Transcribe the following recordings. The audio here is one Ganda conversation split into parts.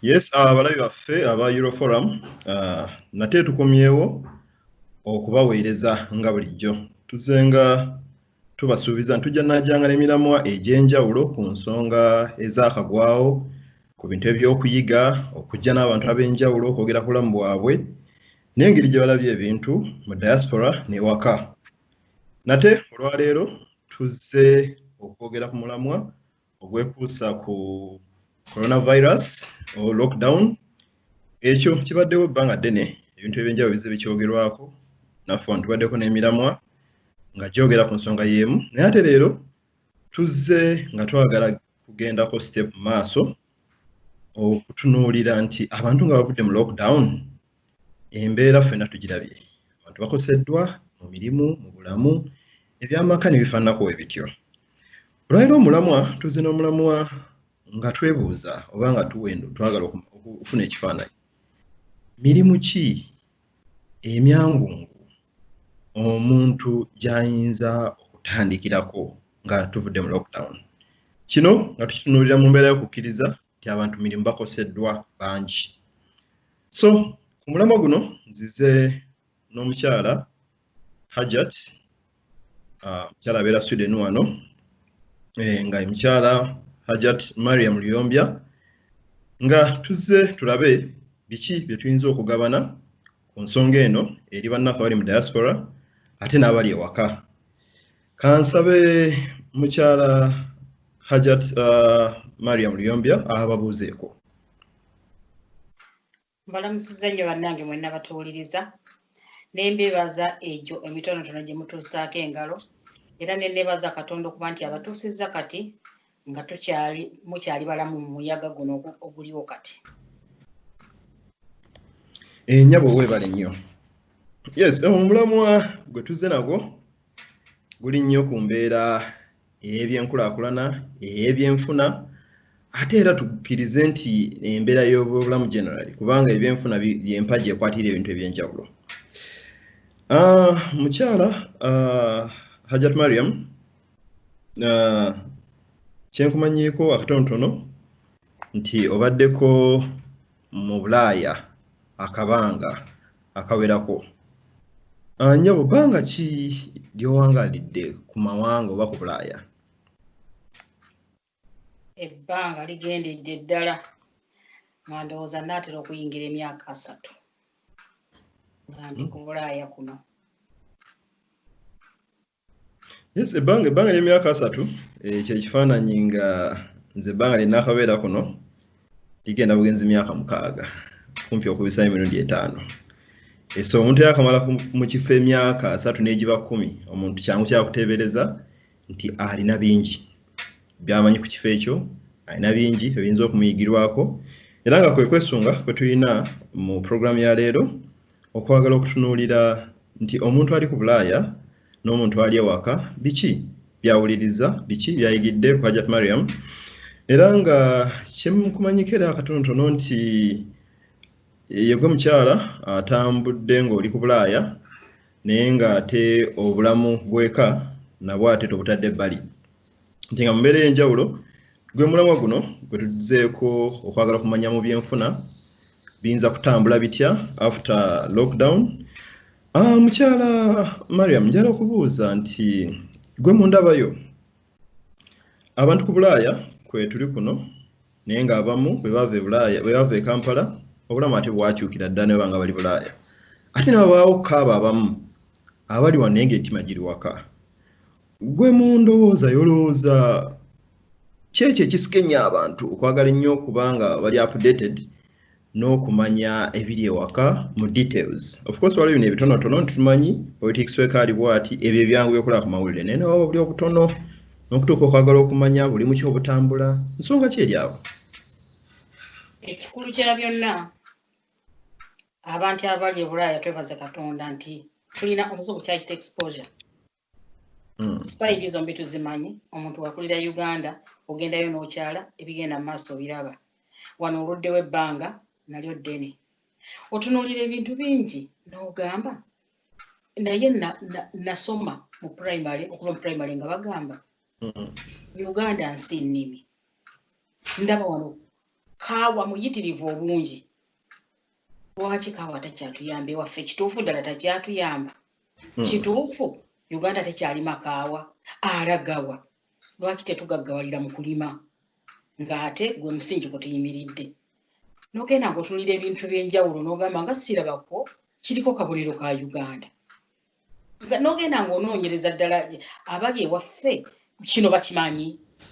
yes ah, abalabi baffe aba euroforum ah, nate tukomyewo okubaweereza nga bulijjo tuzenga tubasuubiza ntujja najanga nemiramwa egy'enjawulo ku nsonga ezakagwawo ku bintu ebyokuyiga okujja n'abantu ab'enjawulo okwogera ku bulamu bwabwe n'engeri gye balabye ebintu mu diaspora newaka nate olwaleero tuzze okwogera ku mulamwa ogwekuusa ku coronavirus o lockdown ekyo kibaddewo ebbanga ddene ebintu ebyenjawulo bizze bikyogerwako naffe wano tubaddeko n'emiramwa nga gyogera ku nsonga y'emu naye ate leero tuzze nga twagala kugendako step maaso okutunuulira nti abantu nga bavudde mu lockdown embeera ffena tugirabye abantu bakoseddwa mu mirimu mu bulamu ebyamaka ne bifaananako we bityo olwaliro omulamwa tuze n'omulamwa nga twebuuza oba nga tuwendo twagala okufuna ekifaananyi mirimu ki emyangungu omuntu gy'ayinza okutandikirako nga tuvudde mu lockdown kino nga tukitunuulira mu mbeera y'okukkiriza nti abantu mirimu bakoseddwa bangi so ku mulamwa guno nzize n'omukyala hajat ah, omukyala uh, abeera sweden wano e, nga mukyala hajat mariam luyombya nga tuzze tulabe biki bye tuyinza okugabana ku nsonga eno eri bannaffe abali mu diaspora ate n'abali ewaka kansabe mukyala hajat uh, mariam luyombya ababuuzeeko mbalamusiza nnyo bannange mwenna batuwuliriza nembebaza egyo emitonotono gye mutuusaako engalo era nenebaza katonda okuba nti abatuusizza kati nga tukyali mukyali balamu mu muyaga guno oguliwo kati enyabo eh, webale nnyo yes eh, omulamwa gwe tuzze nagwo guli nnyo ku mbeera ey'ebyenkulakulana ey'ebyenfuna ate era tukkirize nti embeera y'obulamu generali kubanga ebyenfuna yempagi ekwatira ebintu ebyenjawulo ah, mukyala ah, hajat mariam uh, kyenkumanyiiko akatonotono nti obaddeko mu bulaaya akabanga akawerako ah, nyabo bbanga ki lyowangalidde ku mawanga oba ku bulaaya ebbanga ligendedde ddala nga ndowooza naatera okuyingira emyaka asatu nga ndi ku bulaaya kuno Yes, ebbanga ebbanga ly'emyaka asatu eh, kye kifaananyi nga nze ebbanga lye nnaakabeera kuno ligenda bugenzi myaka mukaaga kumpi okubisa emirundi etaano Eh, so omuntu yakamala ku- mu kifo emyaka asatu n'egiba kkumi omuntu kyangu kyakuteebereza nti alina bingi byamanyi ku kifo ekyo alina bingi ebiyinza okumuyigirwako era nga kwe kwesunga kwe tulina mu pulogulaamu ya leero okwagala okutunuulira nti omuntu ali ku bulaaya n'omuntu ali ewaka biki byawuliriza biki byayigidde ku hajat mariam era nga kyemukumanyiko era akatonotono nti yegwe mukyala atambudde ng'oli ku bulaaya naye ng'ate obulamu bweka nabwo ate tobutadde ebbali nti nga mu mbeera ey'enjawulo gwe mulamwa guno gwe tuzeeko okwagala okumanya mu byenfuna biyinza kutambula bitya after lockdown ah, mukyala mariam njala okubuuza nti gwe mundabayo abantu ku bulaaya kwe tuli kuno naye ng'abamu bwe bava e bulaaya bwe bava e kampala obulamu ate bwakyukira ddala ne banga bali bulaaya ate nabawaawo kaaba abamu abali wano naye ngaetima giri waka Gwe mu ndowooza yolowooza kyekyo ekisika ennyo abantu okwagala ennyo okuba nga bali updated n'okumanya ebiri ewaka mu details of course waliwo bino ebitonotono ntumanyi politics weka ali bwati ebyo ebyangu byokulaba ku mawulire naye nawo buli obutono n'okutuuka okwagala okumanya buli mu kyobutambula nsonga ki eri awo ekikulu kya byonna abantu abali ebulaaya twebaze katonda nti tulina omuzibu kyakita exposure Mm. Side zombi tuzimanyi omuntu wakulira Uganda ogendayo n'okyala ebigenda mu maaso obiraba wano oluddewo ebbanga nalyo ddene otunuulira ebintu bingi n'ogamba naye nasoma mu primary okuva mu primary nga bagamba mm. Uganda nsi nnimi ndaba wano kaawa muyitirivu obungi lwaki kaawa takyatuyamba ewaffe kituufu ddala takyatuyamba hmm. kituufu uganda tekyali makaawa alagawa lwaki tetugaggawalira mu kulima ng'ate gwe musingi kwe tuyimiridde nogenda ngaotunulira ebintu byenjawulo nogamba nga sirabakwo kiriko kabonero ka uganda nogenda ngaonoonyereza ddala abali ewaffe kino bakimanyi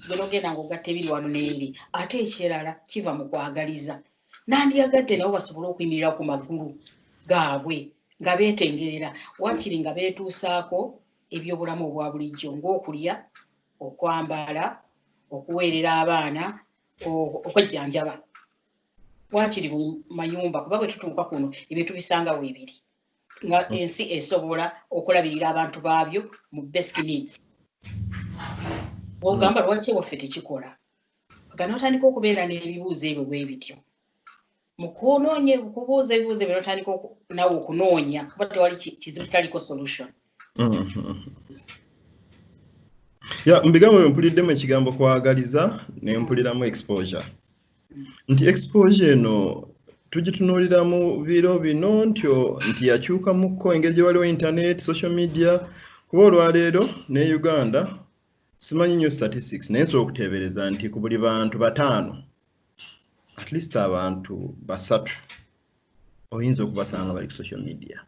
gwe nogenda ngaogatta ebiri wano neeri ate ekirala kiva mu kwagaliza nandiyagadde nabo basobole okuyimirira ku magulu gaabwe nga beetengerera waakiri nga beetuusaako ebyobulamu obwa bulijjo ng'okulya okwambala okuweerera abaana okwejjanjaba waakiri mu mayumba kuba bwe tutuuka kuno ebintu bisanga weebiri nga mm. ensi esobola okulabirira abantu baabyo mu basic needs ogamba lwaki ewaffe tekikola nga n'otandika okubeera n'ebibuuzo ebyo bwe bityo mu kunoonya kubuuza ebibuuzo ebyo n'otandika nawe okunoonya kuba tewali kizibu kitaliko solution mm-hmm. ya mu bigambo byo mpuliddemu ekigambo kwagaliza ne mpuliramu exposure nti exposure eno tugitunuulira mu biro bino ntyo nti yakyukamukko engeri gye waliwo internet social media kuba olwaleero ne uganda simanyi nyo statistics naye nsobola okuteebereza nti ku buli bantu bataano at least abantu basatu oyinza okubasanga bali ku social media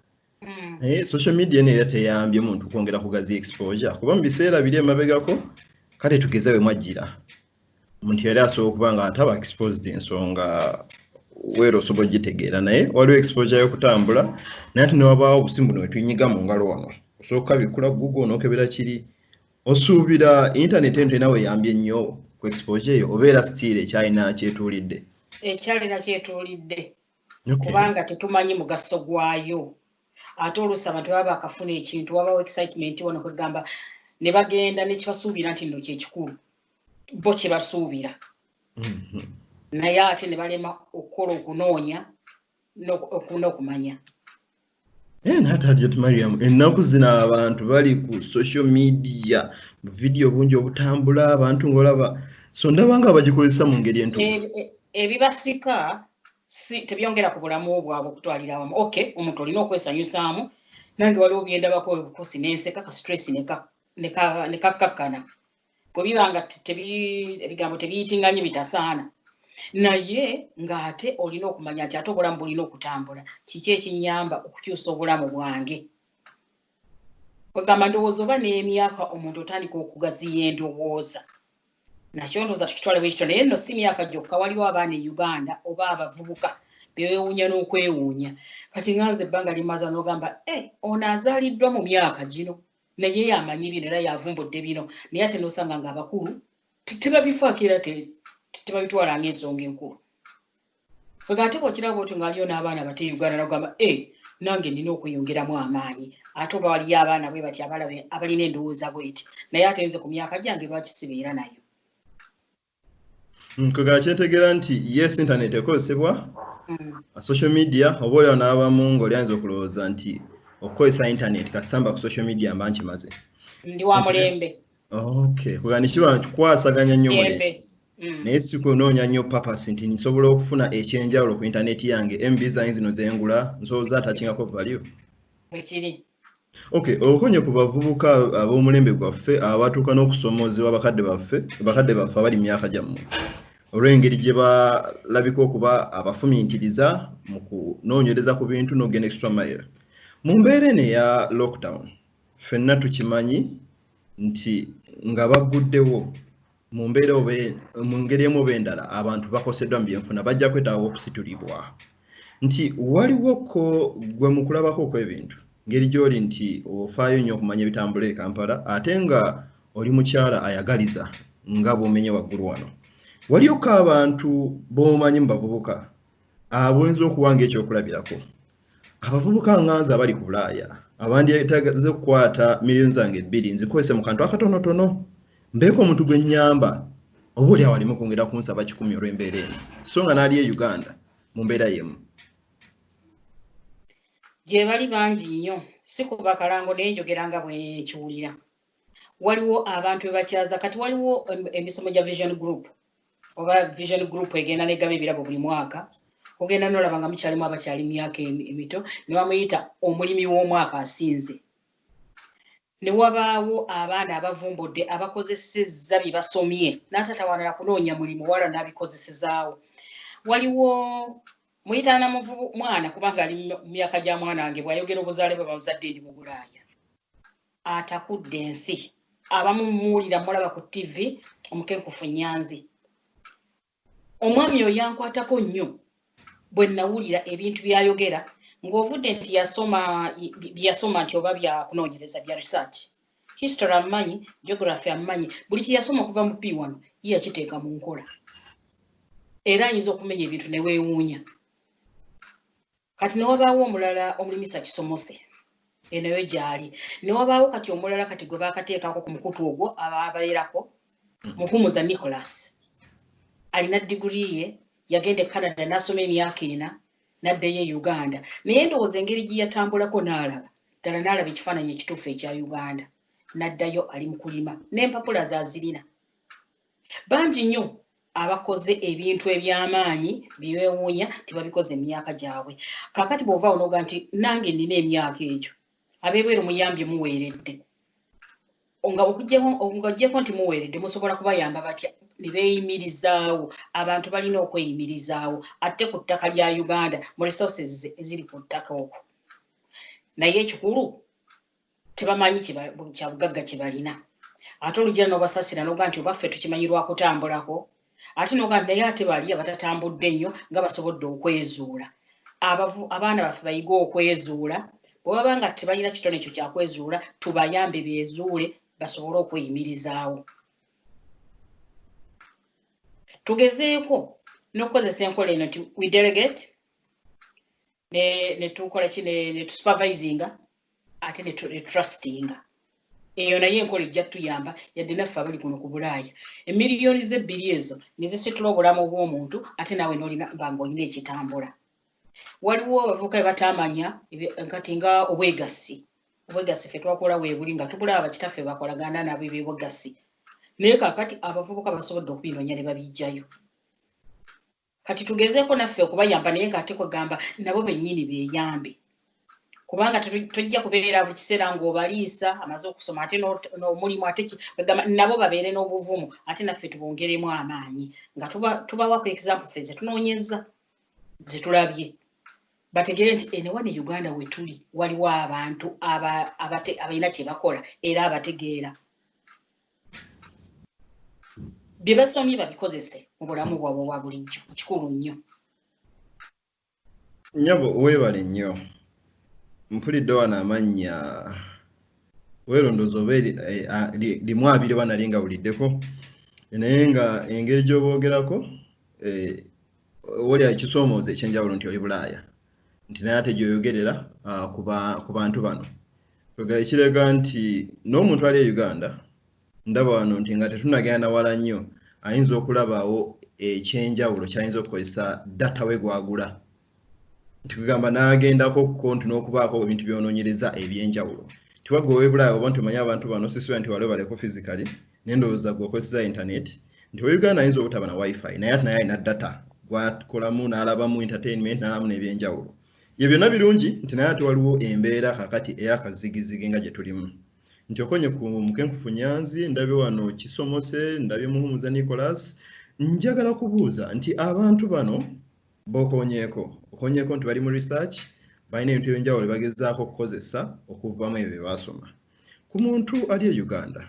hmm. naye social media eno era teyambye muntu kwongera kugazi exposure kuba mu biseera biri emabegako kale tugeze we mwajjira omuntu yali asobola okuba nga ataba exposed ensonga weera osobola ogitegeera naye waliwo exposure yokutambula naye ati newabaawo obusimu buno wetunyiga mu ngalo ono osobola okukabikula google onokebera kiri osuubira intaneti eno tenawe eyambye nnyo ku exposure eyo obeera sitiire ekyalina kyetuulidde ekyalina kyetuulidde kubanga tetumanyi mugaso gwayo ate oluusi abantu baba bakafuna ekintu wabawo excitement wano kwegamba ne bagenda nekibasuubira nti nno kyekikulu bo kye basuubira mm-hmm. naye ate ne balema okukola okunoonya n'okumanya eh, natajet mariam ennaku zino abantu bali ku social media buvidiyo bungi obutambula abantu ngaolaba so ndaba nga bagikozesa mu ngeri entu eh, eh, ebibasika si tebyongera ku bulamu bwabwe okutwalira awamu ok omuntu olina okwesanyusaamu nange waliwo byendabako obukosi nenseka ka stress nekakkakana neka bwe biba nga ebigambo tebiyitinganye bitasaana naye ng'ate olina okumanya nti ate obulamu bulina okutambula kiki ekinyamba okukyusa obulamu bwange kwegamba ndowooza oba n'emyaka omuntu otandika okugaziya endowooza nakyo ndowooza tukitwale bwekityo naye nno si myaka gyokka waliwo abaana e uganda oba abavubuka bewuunya n'okwewuunya kati nganze ebbanga limaza n'ogamba e eh, ono azaaliddwa mu myaka gino naye yamanyi bino era yavumbudde bino naye ate nosanga nga abakulu tebabifaako era tebabitwala nga ensonga enkulu nga ate bwokiraba otyo ngaaliyo n'abaana bate uganda nagamba e eh, nange nina okweyongeramu amaanyi ate oba waliyo abaana bwe bati abalabe abalina endowooza bweti naye ate nze ku myaka gyange lwaki sibeera nayo nkwegala mm, kyentegera nti yes internet ekozesebwa mm. social media oba olyawo n'abamu ngaoli ayinza okulowooza nti okukozesa internet kasamba ku social media mba nkimaze ndi wa mulembe okay kwegala nikiba kikwasaganya nnyo mulembe mm. naye sikunoonya nnyo papas nti nsobola okufuna ekyenjawulo ku internet yange mb zain zino zengula nsobola atakyingako value bwekiri Okay, okonye ku bavubuka ab'omulembe gwaffe abatuuka n'okusoomoozebwa bakadde baffe bakadde baffe abali mu myaka gyammwe olw'engeri gye balabika okuba abafumintiriza mu kunoonyereza ku bintu n'ogenda extra mile mu mbeera eno eya lockdown ffenna tukimanyi nti nga bagguddewo mu mbeera oba e, mu ngeri emu oba endala abantu bakoseddwa mu byenfuna bajja kwetaaga okusitulibwa nti waliwo ko gwe mu kulabako okw'ebintu ngeri gy'oli nti ofaayo nnyo okumanya ebitambula e kampala ate nga oli mukyala ayagaliza nga bwomenye waggulu wano waliyoko abantu b'omanyi mu bavubuka abuyinza okuba ngaekyokulabirako abavubuka nganza abali ku bulaaya abandyetagaza okukwata miliyoni zange ebbiri nzikozese mu kantu akatonotono mbeeko omuntu gwe nnyamba oba oli awalimu kwongera kunsaba kikumi olw'embeera eno so nga n'ali e uganda mu mbeera yemu gye bali bangi nnyo si kuba kalango naye njogera nga bwekiwulira waliwo abantu bebakyaza kati waliwo emisomo gya vision group oba vision group egenda negaba ebirabo buli mwaka ogenda nolaba nga mukyalimu abakyali myaka emito newamuyita omulimi w'omwaka asinze newabaawo abaana abavumbudde abakozesezza bye basomye n'ataata walala kunoonya mulimu wala n'abikozesezaawo waliwo muyitaana muvubu mwana kubanga ali mu myaka gya mwana wange bw'ayogera obuzaale bwe bamuzadde ndi mu bulaaya atakudde ensi abamu muwulira mulaba ku tv omukenkufu nyanzi omwami oyo yankwatako nnyo bwe nawulira ebintu byayogera ng'ovudde nti yasoma byeyasoma nti oba byakunoonyereza bya research history amumanyi geography amumanyi buli kyeyasoma okuva mu pii wano ye yakiteeka mu nkola era ayinza okumenya ebintu ne weewuunya kati newabaawo omulala omulimisa kisomose enoyo gyali newabaawo kati omulala kati gwe bakateekako ku mukutu ogwo ababeerako hmm. muhumuza nicholas alina diguri ye yagenda e canada nasoma emyaka ena naddeyo e uganda naye ndowooza engeri gyeyatambulako naalaba ddala naalaba ekifaananyi ekituufu ekya uganda naddayo ali mukulima nempapula zazirina bangi nnyo abakoze ebintu eby'amaanyi bye beewuunya nti babikoze emyaka gyabwe kaakati bw'ova onoga nti nange nnina emyaka egyo abeebweru muyambye muweeredde nga okuggyeko nti muweeredde musobola kubayamba batya ne beeyimirizaawo abantu balina okweyimirizaawo atte ku ttaka lya uganda mu resources eziri ku ttaka okwo naye ekikulu tebamanyi kyabugagga kyebalina ate olugira nobasasira noga nti obaffe tukimanyi lwakutambulako ate noga nti naye ate bali abatatambudde nnyo nga basobodde okwezuula abaana baffe bayige okwezuula bwebaba nga tebalina kitone ekyo kyakwezuula tubayambe bezuule basobole okweyimirizaawo tugezeeko nokukozesa enkola eno nti we delegate netukola ki netusupervisinga ate netrustinga eyo naye enkola ejja tuyamba yadde naffe abali kuno ku bulaaya emiliyoni zebbiri ezo nezisitula obulamu bwomuntu ate naawe nolina banga olina ekitambula waliwo abavuka ebatamanya kati nga obwegassi obwegassi fe twakola webuli nga tubula abakitaffe bakolagana nabo ebyobwegassi naye kakati abavubuka basobodde okubinonya ne babijjayo kati tugezeeko naffe okubayamba naye ng'ate kwegamba nabo bennyini beeyambe kubanga tojja kubeera buli kiseera ng'obaliisa amaze okusoma ate n'omulimu ate kwegamba nabo babeere n'obuvumu ate naffe tubongeremu amaanyi nga tubawako example ffe ze tunoonyezza ze tulabye bategere nti enewa ne uganda wetuli waliwo abantu abalina kyebakola era abategeera bye basomye babikozese mu bulamu bwabwe obwa bulijjo kikulu nnyo nyabo weebale nnyo mpulidde wano amannya weerondooza oba eh, limu abiri oba nali nga wuliddeko naye nga engeri gy'oboogerako eh, oli akisoomooza ekyenjawulo nti oli bulaaya nti naye ate gyoyogerera ah, ku bantu bano ekiraga nti n'omuntu ali e uganda ndaba wano nti nga tetunagenda nawala nnyo ayinza okulabaawo ekyenjawulo kyayinza okukozesa data we gwagula nti kugamba n'agendako kuko nti n'okubaako ebintu byononyereza ebyenjawulo tiwagga owebulaayo oba nti omanyi abantu bano sisubira nti waliwo baleko physically nendowooza gwe okozesa internet nti owe uganda ayinza obutaba na wifi naye ati naye alina data gwakolamu n'alabamu entertainment n'alamu n'ebyenjawulo ye byonna birungi nti naye ate waliwo embeera kakati eyakazigizigi nga gye tulimu nti okonye ku mukenkufu nyanzi ndabye wano kisomose ndabye muhumuza nicolas njagala kubuuza nti abantu bano bokonyeeko okonyeeko nti bali mu research balina ebintu ebyenjawulo bagezaako okukozesa okuvamu ebyo bye baasoma ku muntu ali e uganda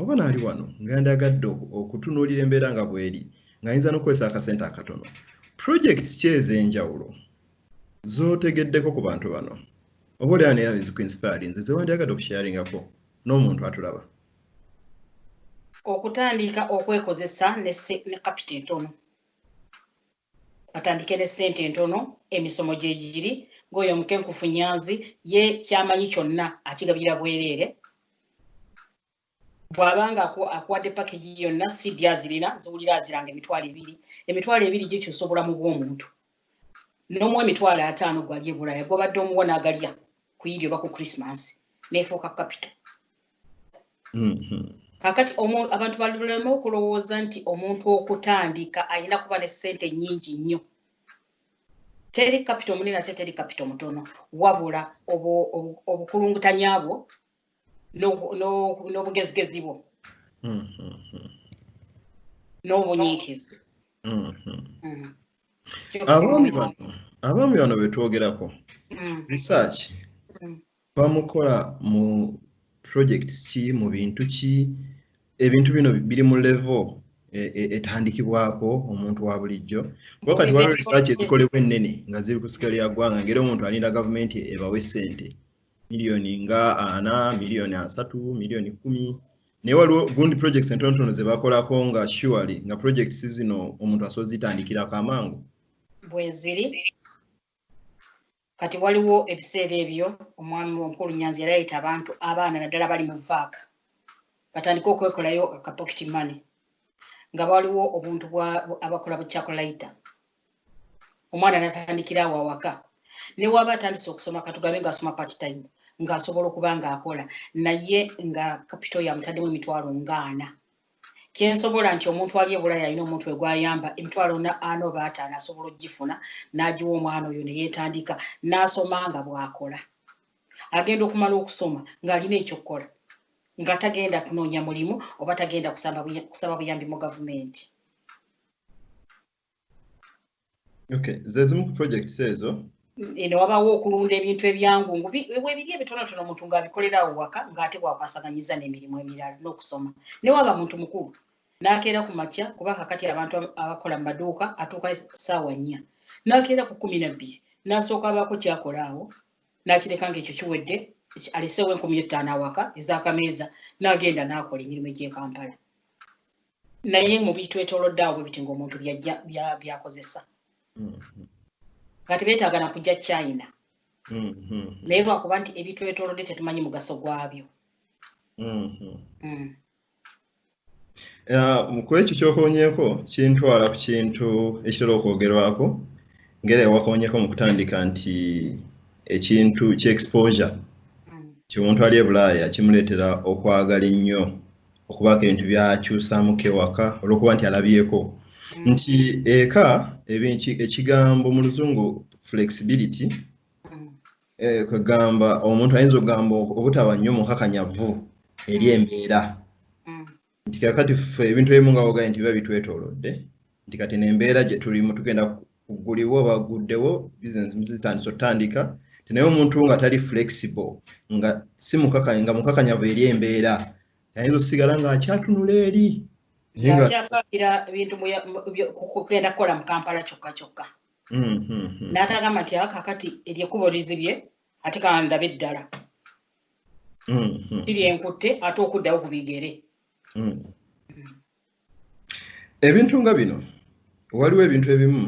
oba naali wano nga ndyagadde okutunuulira embeera nga bweri ng'ayinza n'okukozesa akasente akatono projects ki ez'enjawulo z'otegeddeko ku bantu bano oba olyawo naye ezikuinspire nze zewandyagadde okusharingako n'omuntu atulaba okutandika okwekozesa ne kapita entono batandike ne ssente entono emisomo gye giri ng'oyo omukenkufu nyanzi ye kyamanyi kyonna akigabira bwereere bw'aba nga akuwadde pakegi yonna sidi azirina ziwulira aziranga emitwalo ebiri emitwalo ebiri gikyusa obulamu bw'omuntu n'omuwa emitwalo ataano gwali ebulaya gwobadde omuwa n'agalya ku irio oba ku krisimansi neefuuka kapito kakati abantu balulema okulowooza nti omuntu okutandika alina kuba ne ssente nnyingi nnyo teri kapita omunene ate teri kapita omutono wabula obukulungutanya bwo n'obugezigezi bwo n'obunyiikivu abaami bano betwogerako research bamukola mu projects ki mu bintu ki ebintu bino biri mu level e, e, etandikibwako omuntu wa bulijjo kuba kati waliwo research ezikolebwa ennene nga ziri ku sikali ya ggwanga ngeri omuntu alinda gavumenti ebawe sente miliyoni nga ana miliyoni asatu miliyoni kumi naye waliwo gundi projects entonotono zebakolako nga surely nga projects zino omuntu asobola zitandikirako amangu bweziri kati waliwo ebiseera ebyo omwami omukulu nyanzi yali ayita abantu abaana naddala bali mu vaaka batandike okwekolayo akapokiti mane nga baliwo obuntu abakola bukyakulayita omwana natandikira awo awaka newaba atandise okusoma katugambe ngaasoma patitime ngaasobola okuba ngaakola naye nga kapito yamutaddemu emitwalo ngaana kyensobola nti omuntu ali ebulaya alina omuntu egwayamba emitwalo ana oba ataano asobola okugifuna n'agiwa omwana oyo neyetandika n'asoma nga bwakola agenda okumala okusoma ng'alina ekyokukola nga tagenda kunoonya mulimu oba tagenda kusaba buyambi mu gavumenti Okay, zezimu ku projects ezo eno wabawo okulunda ebintu ebyangu webiri ebitonotono omuntu ng'abikolerawo waka ng'ate bwakwasaganyiza n'emirimu emirala n'okusoma newaba muntu mukulu n'akeera ku makya kuba kakati abantu abakola mu maduuka atuuka saawa nnya n'akeera ku kumi nabbiri n'asooka abaako kyakola awo n'akireka ng'ekyo kiwedde aliseewo enkumi ettaano awaka ez'akameeza n'agenda n'akola emirimu egy'ekampala naye mu bitwetolodde awo bwebiti ngaomuntu byakozesa mm-hmm. nga tebetaaga na kujja china mm-hmm. naye lwakuba nti ebitwetolodde tetumanyi mugaso gwabyo mm-hmm. mm. uh, kwekyo kyokonyeko kintwala ku kintu ekitera okwogerwako ngera ewakonyeko mu kutandika nti ekintu kyexposure mm. kyomuntu ali ebulaaya kimuleetera okwagala ennyo okubaako ebintu byakyusamuko ewaka olwokuba nti alabyeko mm. nti eka ekigambo mu luzungu flexibility mm. eh, kwegamba omuntu ayinza okugamba obutaba nnyo mukakanyavu eri mm. embeera nti kakati fe ebintu ebimu nga wogaye nti biba bitwetolodde nti kati nembeera gyetulimu tugenda kugulibwa oba guddewo bizinesi muzitandisa otandika tenaye omuntu nga tali flexible nga si mukakanya nga mukakanyavu eri embeera ayinza okusigala nga akyatunula eri akyapakira ebintu kugenda kukola mu kampala kyokka kyokka hmm, hmm, hmm. natagamba nti akakati ah, eryekubo lizibye ate kandabe eddala kiri enkutte ate okuddawo ku bigere ebintu nga bino waliwo ebintu ebimu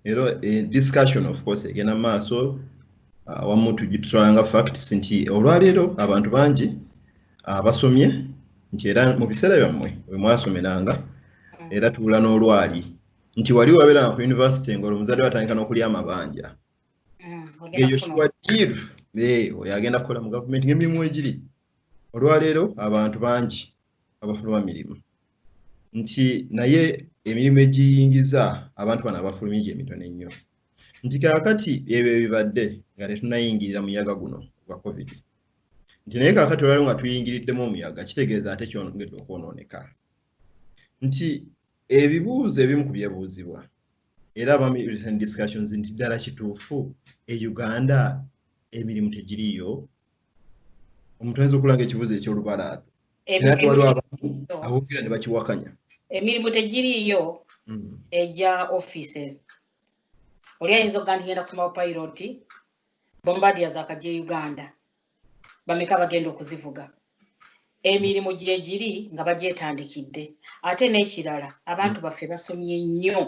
era eh, discussion of course egenda maaso awamu ah, tugitulanga facts nti olwaleero abantu bangi ah, basomye nti era mu biseera byammwe bwe mwasomeranga era tuula n'olwali nti wali wabeeranga ku yunivasite ngaolwo muzadde watandika n'okulya amabanja mm, eyo kiwadiru eh, oyo agenda kukola mu gavumenti ng'emirimu egiri olwaleero abantu bangi abafuluma mirimu nti naye emirimu egiyingiza abantu bano abafulumye gye mitono ennyo nti kaakati ebyo ebibadde nga tetunayingirira muyaga guno gwa covid nti naye kaakati olwaliwo nga tuyingiriddemu omuyaga kitegeeza ate kyongedde okwonooneka nti ebibuuzo ebimu ku byebuuzibwa era abami written discussions nti ddala kituufu e uganda emirimu tegiriyo omuntu ayinza okulanga ekibuzo ekyolubalaado era twaliwo abantu abogera ne bakiwakanya emirimu tegiriiyo mm. egya offices oli ayinza okuga nti genda kusoma bupilot bombadia zakajja e uganda bameka bagenda okuzivuga emirimu gyegiri nga bagyetandikidde ate n'ekirala abantu baffe basomye nnyo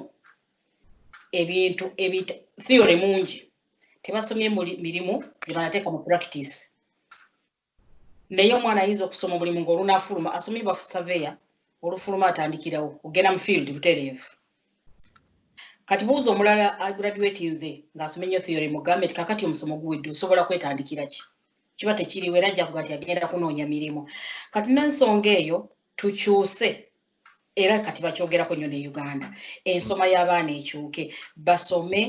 ebintu theory mungi tebasomye mirimu gyebanateeka mu practice naye omwana ayinza okusoma omulimu ngaolunafuluma asomye bafu saveya olufuluma atandikirawo ogenda mu field butereevu kati buuza omulala agraduati nze ngaasome nyo theory mugambe ti kakati omusomo guwedde osobola kwetandikira ki kiba tekiriwo era jjakuga nti agenda kunoonya mirimu kati nensonga eyo tukyuse era kati bakyogerako nnyo ne uganda ensoma y'abaana ekyuke basome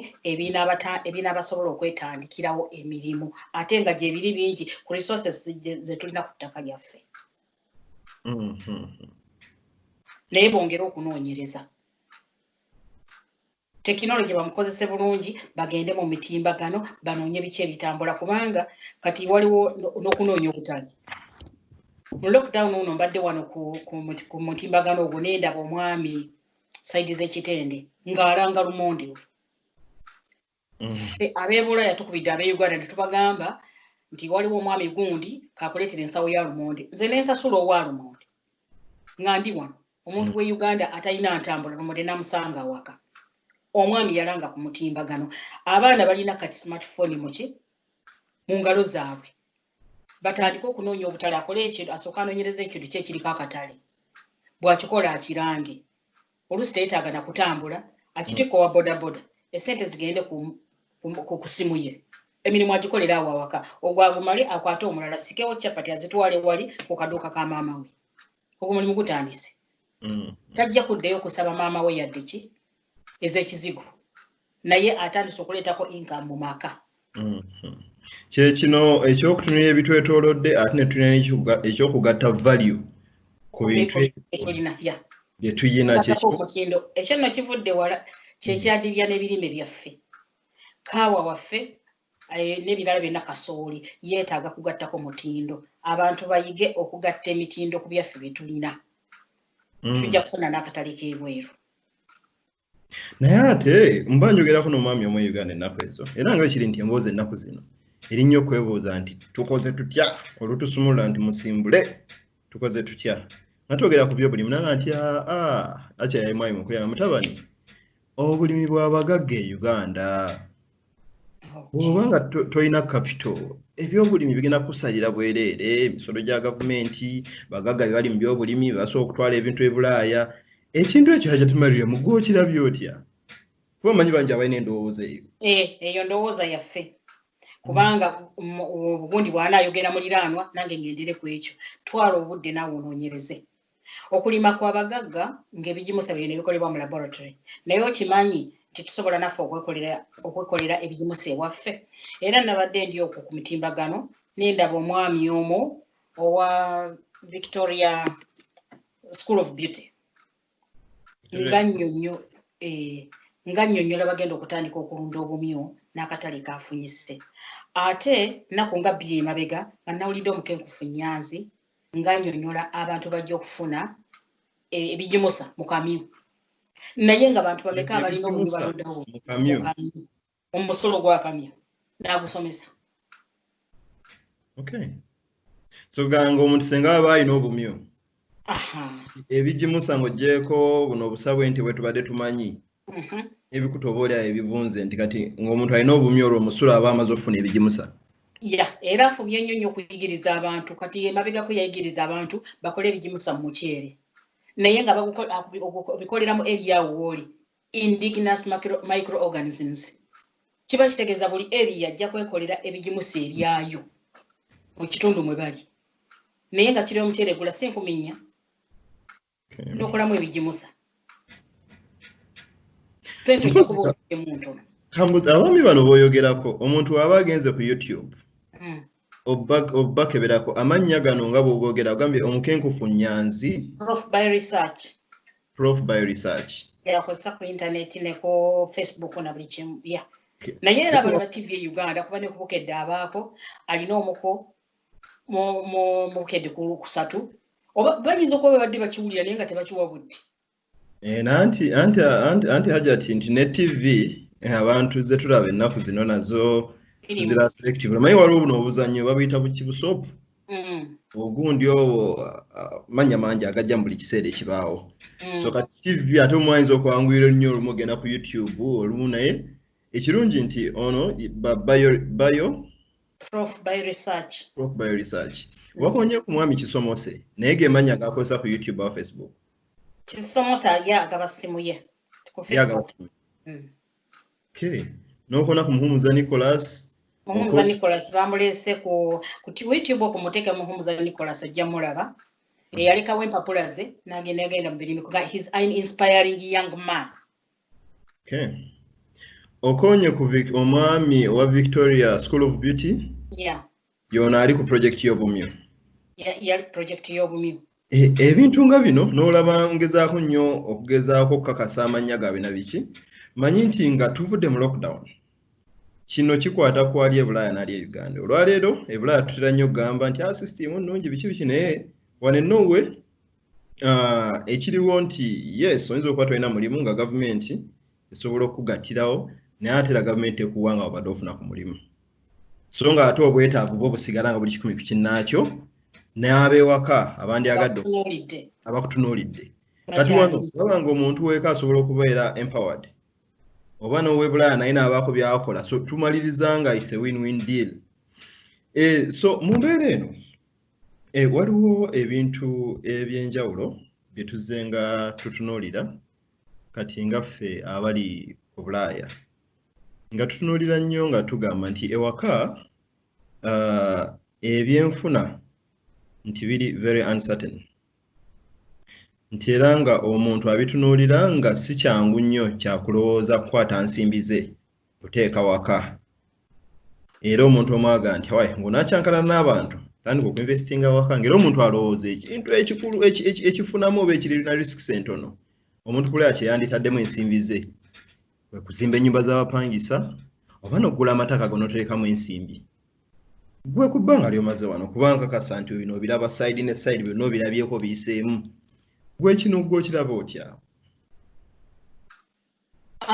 ebinaabasobola okwetandikirawo emirimu ate nga gyebiri bingi ku resources zetulina ku ttaka lyaffe mm-hmm. naye bongere okunoonyereza tekinologi bamukozese bulungi bagende mu mitimbagano banoonye biki ebitambula kubanga kati waliwo n'okunoonya obutali mu lockdown uno mbadde wano ku mutimbagano ogwo nendaba omwami saidi z'ekitende ng'alanga lumondi we mm. abeebula yatukubidde abe uganda netubagamba nti waliwo omwami gundi kakuleetera ensawo ya lumondi nze nensasula owa lumondi nga ndi wano omuntu mm. we uganda atalina ntambula nomode namusanga awaka omwami yalanga ku mutimbagano abaana balina kati smartphone muki mu ngalo zaabwe batandike okunoonya obutale akole ekintu asooka anoonyereza ekintu kye kiriko akatale bwakikola akirange oluusi teyetaaga na kutambula akitikka owa bodaboda esente zigende ku kusimu ye emirimu agikolera awo awaka ogwagumale akwate omulala sikewo chapati azitwale wali ku kaduuka ka maama we ogwo mulimu gutandise mm. tajja kuddayo okusaba maama we yadde ki ez'ekizigo naye atandise okuleetako income mu maka mm. kyekino ekyokutunira ebitwetolodde ate netulina ekyokugatta value ku bintu byetuyina kyekino ekyo nno kivudde wala kyekyadibya n'ebirime byaffe kaawa waffe eh, n'ebirala byonna kasooli yeetaaga kugattako mutindo abantu bayige okugatta emitindo ku byaffe bye tulina mm. tujja kufuna n'akatale k'ebweru naye ate mba njogerako n'omwami omu uganda ennaku ezo era nga kiri nti emboozi ennaku zino erinnya okwebuuza nti tukoze tutya olutusumulula nti musimbule tukoze tutya nga twogera ku byobulimi nanga nti aa ah, ah, akyayayi mwami mukulu yanga mutabani obulimi bwabagagga e uganda bwoba nga tolina kapito ebyobulimi bigenda kusalira bwereere emisolo gya gavumenti bagagga bye bali mu byobulimi basobola okutwala ebintu ebulaaya ekintu ekyo hajatumarire mu gwokirabye otya kuba manyi bangi abalina endowooza eyo eh, eyo ndowooza yaffe kubanga obugundi bwana ayogera muliraanwa nange ngendere ku ekyo twala obudde naawe onoonyereze okulima kwa bagagga ng'ebigimusa byo nebikolebwa mu laboratory naye okimanyi nti tusobola naffe okwekolera ebigimusa ewaffe era nabadde ndi okwo ku mitimbagano nendaba omwami omu owa victoria school of beauty nga nnyonnyo eh, nga nnyonnyola bagenda okutandika okulunda obumyu n'akatale kaafunyise ate nnaku nga bbiri emabega nga nawulidde omukenkufu nyanzi nga nnyonnyola abantu bajja okufuna eh, ebigimusa mu kamyu naye nga bantu bameka abalina obumyu balundawo omusolo gwakamya nagusomesa okay. so ganga omuntu senga baba alina obumyu ebigimusa ngaogyeko buno obusabwe nti bwetubadde tumanyi mhm. ebikuta oba olyayo ebivunze nti kati ngaomuntu alina obumyu olwo omusolo aba amaze okufuna ebigimusa ya era afubye nnyo nnyo okuyigiriza abantu kati emabegako yayigiriza abantu bakole ebigimusa mu muceere naye nga obikolera mu eriyawo wooli indigenous microorganisms kiba kitegeeza buli eriya ajja kwekolera ebigimusa ebyayo mu kitundu mwe bali naye nga kiri omuceere gula si nkumi nnya nokolamu ebigimusa sente ojja kuba oemu ntono kambuzi abaami bano boyogerako omuntu aba agenze ku youtube hmm. obakeberako amannya gano nga bwogogera ogambye omukenkufu nyanzi prof by research prof by research yakozesa ku internet ne ku facebook na buli kimu ya naye era bano ba tv e uganda kuba ne kubukedde abaako alina omuko mu bukedde ku lwokusatu oba bayinza okuba babadde bakiwulira naye nga tebakiwa budde Eh, nanti anti anti anti hajati nti ne tv eh, abantu ze tulaba ennaku zino nazo Irimu. zira selective naye waliwo buno obuzannyo babuyita buki busopu Mm, ogundi owo ah, manya mangi agajja mu buli kiseera ekibaawo mm. so kati tv ate omu ayinza okwanguyira nnyo olumu ogenda ku youtube olumu naye ekirungi nti ono ba- bayo bayo prof by research prof bio research wakonye ku mwami kisomose naye gemanya gakozesa ku youtube oba facebook kisomosa ye agaba simu ye ku facebook mm. okay nokona ku muhumuza nicholas muhumuza nicholas bamulese ku ku youtube okumuteka muhumuza nicholas ojja mulaba mm. eyalekawo empapula ze nagenda yagenda mu birimi kuba his an inspiring young man okay okonye ku omwami owa victoria school of beauty yeah yono ali ku project y'obumyu yali project y'obumyu e, ebintu nga bino n'olaba ngezaako nnyo okugezaako okukakasa amannya gaabwe na biki manyi nti nga tuvudde mu lockdown kino kikwata ku ali ebulaaya n'ali e uganda olwaleero ebulaaya tutera nnyo okugamba nti a ah, system nnungi biki biki naye wane nowe ah, ekiriwo nti yes oyinza okuba tolina mulimu nga gavumenti esobola okukugattirawo naye ate era gavumenti ekuwa nga obadde ofuna ku mulimu so nga ate obwetaavu bwo busigala nga buli kikumi ku kinnaakyo n'abewaka abandyagadde abakutunuulidde kati wano olaba nga omuntu weeka asobola okubeera empowered oba n'owebulaaya naye naabaako byakola so tumaliriza nga is a win win deal eh, so mu mbeera eno eh, waliwo ebintu ebyenjawulo bye tuzze nga tutunuulira kati nga ffe abali obulaaya nga tutunuulira nnyo nga tugamba nti ewaka uh, ebyenfuna nti biri very uncertain nti era nga omuntu abitunuulira nga si kyangu nnyo kyakulowooza kukwata nsimbi ze kuteeka waka era omuntu omwaga nti wayi ngaonakyankana n'abantu tandika okuinvestinga waka ngaera omuntu alowooza ekintu ekikulu ekifunamu oba ekirina risks entono omuntu kulea kyeyanditaddemu ensimbi ze kwekuzimba ennyumba z'abapangisa oba nokugula amataka gonoterekamu ensimbi gwe ku bbanga lyomaze wano kubanga kasa nti bino obiraba side ne side byonna obirabyeko biyiseemu gwe kino gwe okiraba otya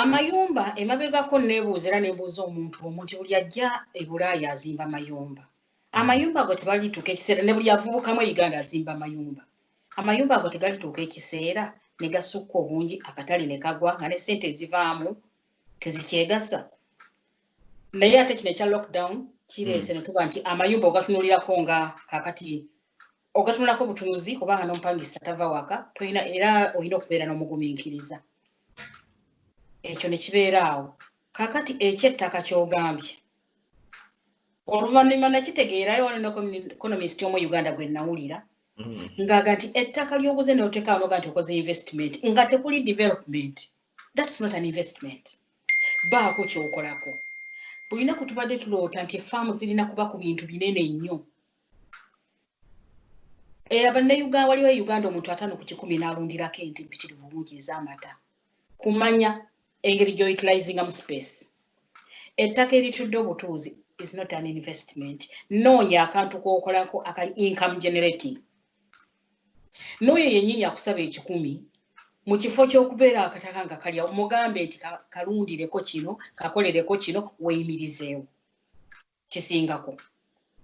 Amayumba emabegako nebuuza era nebuuza omuntu omu nti buli ajja e Bulaaya azimba mayumba. Hmm. Amayumba ago tebalituuka ekiseera ne buli avubukamu e Uganda azimba mayumba. Amayumba ago tegalituuka ekiseera ne gasukka obungi akatale ne kagwa nga ne ssente ezivaamu tezikyegasa. Naye ate kino ekya lockdown kireese hmm. ne tuba nti amayumba ogatunulirako nga kakati ogatunulako butunuzi kubanga n'omupangisa tava waka tolina era olina okubeera n'omugumiikiriza ekyo ne kibeera awo kakati ekyettaka kyogambye oluvannyuma nakitegeerayo wano neconomist omu uganda gwe nawulira mm. ngaaga nti ettaka lyoguze neotekawo noga nti okoze investment nga tekuli development thats not an investment baako kyokolako bulina kutubadde tuloota nti efaamu zirina kuba ku bintu binene nnyo Eh, abannayuganda waliwo e uganda omuntu ataano ku kikumi n'alundirako ente mpitirivu bungi ez'amata kumanya engeri gy'outilizinga mu space ettaka eritudde obutuuzi is not an investment noonya akantu k'okolako akali income generating n'oyo yennyini akusaba ekikumi mu kifo ky'okubeera akataka nga kalya mugambe nti kalundireko kino kakolereko kino weeyimirizeewo kisingako